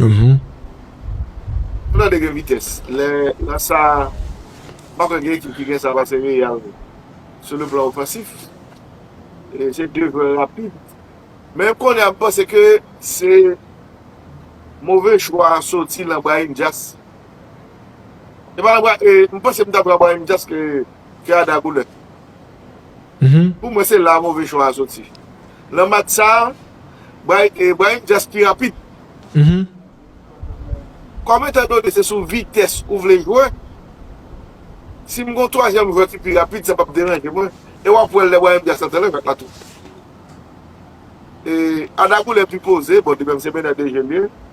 Mwen tande gen vitès lè nan sa a. M pa kwè gen ekip ki gen sa pase Real sou le plan ofansif. Se 2 jwè rapid. Men kounye a m panse ke se move chwa soti lan Brahim Diaz. M panse m ta pran Brahim Diaz ke Arda Güler. Pou mwen se la move chwa a soti. Nan match sa a, Brahim Diaz pi rapid. Kòm etan done se sou vitès ou vle jwe, si m gen yon twazyèm jwè ki pi rapid, sa pap deranje mwen. E w ap wè l lè Brahim Diaz antre nan jak la tou. Arda Güler pi poze, bon li menm se menè de je l ye.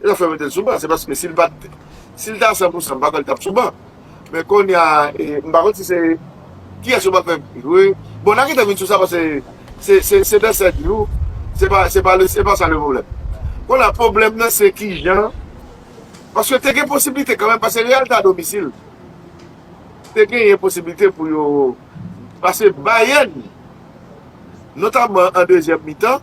e yo fè mete l sou ban se paske si l pat si l ta san pou san m pa kwè l tap sou ban men konnya m pa konn si se kiyès yo pa fè jwe bon nan kite m vin sou sa paske se se se de sè di w se pa se pa se pa sa le pwoblèm konnya pwoblèm nan se kijan paske te gen posiblite kanmèm paske real ta domisil te genyen posiblite pou yo pase bayèn notamman an dezyèm mitan.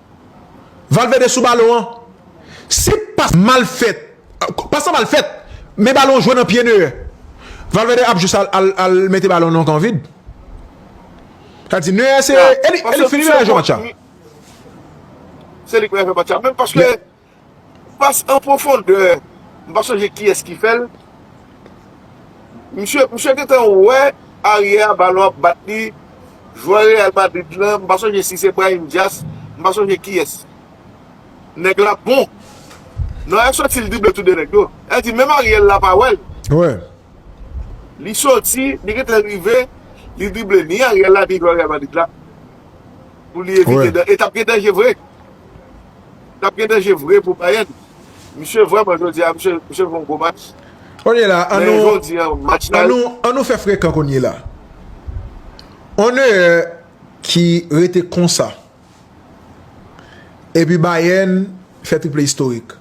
Valverde sou balon an se pas mal fèt pas lan mal fèt men balon an jwe nan pye Neuer Valverde ap jis al mete balon nan kan vid sa di Neuer se li fini menm lè jwe match la. Pass an pwofondè, m pa sonje kiyès ki fè l. Misye, misye gentan wè aryè a balon ap bat li, jwè Real Madrid lan, m pa sonje si se Brahim Diaz, m pa sonje kiyès. Nèg la bon. Nòyè soti l drible tou 2 nèg yo. Sa vle di menm Ariel la pa wè l. Li soti, li gentan rive, li drible ni Ariel la ni jwè Real Madrid la pou li evite dan e t ap gen danje vre. Tap gen danje vre pou Bayern. Misye vreman jodi a misye misye fon gwo match. Konnye la an nou an nou an nou fè frekan konnye la on Neuer ki rete konsa epi Bayern fè triple istorik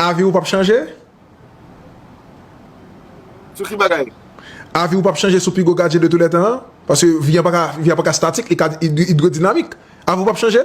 avi ou pap chanje? Sou ki bagay? Avi ou pap chanje sou pi gwo gadyen de tou lè tan an? Paske vi an paka vi an paka statik li ka idwodinamik avi ou pap chanje?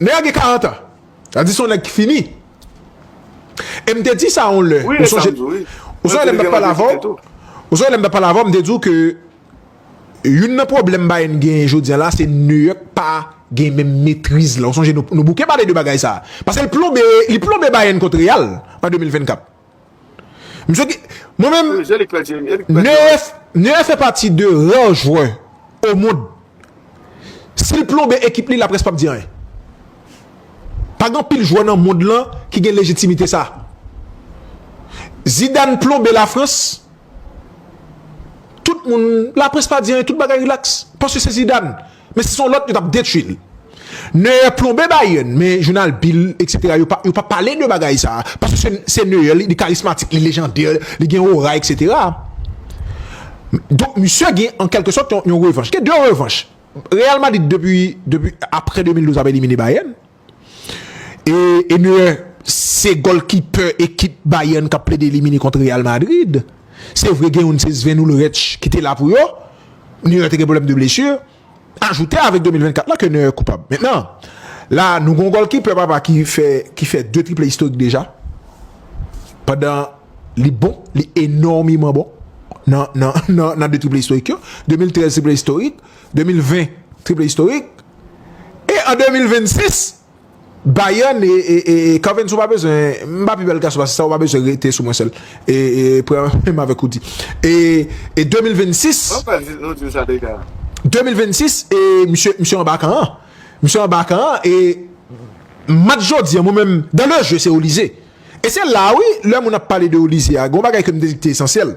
Nèg la gen 40 ans. Sa di son nèg ki fini. E m te di sa yon lè. Ou sonje ou sonje lè m tap pale avè w ou sonje lè m tap pale avè w m te di w ke youn nan pwoblèm Bayern genyen jodi an la se Neuer pa gen menm metriz la. Ou sonje nou bouke pale de bagay sa. Paske l plonbe li plonbe Bayern kont Real an 2024. Msye ki, mwen menm, Neuer fè pati de rare jwè o mond, si l plonbe ekip li laprès p ap di anyen. Pa gen anpil jwè nan mond lan ki gen lejitimite sa. Zidane plonbe Lafrans, tout moun, laprès pa di anyen, tout bagay rilaks, paske se Zidane. Men si se yon lòt yo tap detwi l. Neuer plonbe Bayern men jounal Bill etc yo pa pale de bagay sa paske se Neuer li karismatik li lejandè li gen ora etc donk misye gen an kèlke sòt yon revanch gen 2 revanch Real Madrid depi apre 2012 ap elimine Bayern E Neuer se gòlkipè ekip Bayern k ap plede elimine kont Real Madrid. Se vre gen youn se Sven Ulreich ki te la pou yo. Neuer te gen pwoblèm de blesur. Ajoute avèk 2024 la ke Neuer koupab. Mentnan, la nou gen yon gòlkipè papa ki fè ki fè 2 triple istorik deja. Pandan li bon, li enòmeman bon nan nan nan 2 triple istorik yo. 2013 triple istorik, 2020 triple istorik. E an 2026, Bayern e Cavens ou pa bezwen, m pa pi bèl gason pase sa ou pa bezwen rete sou mwen sèl e pran menm avèk Rudy. E 2026, 2026 e misye misye anba kan an, misye anba kan an e match jodi an mwen menm dans le jeu se Olise. E se la wi lè moun ap pale de Olise a gon bagay ke m te di ki te esansyèl.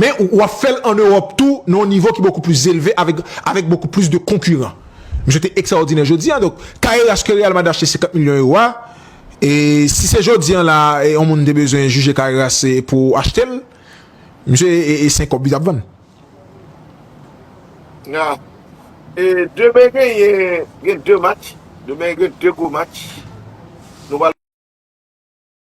Men ou ap fè l an Ewòp tou nan yon nivo ki bokou plis zelve avèk avèk bokou plis de konkiran. Misye te ekstraòdinè jodi a donk Carreras ke Real Madrid achte 50 milyon ewo a e si se jodi an la a yon moun te bezwen jije Carreras e pou achte l misye e e se kòb li t ap vann. Na e demen genyen gen 2 match demen gen 2 gwo match nou pral.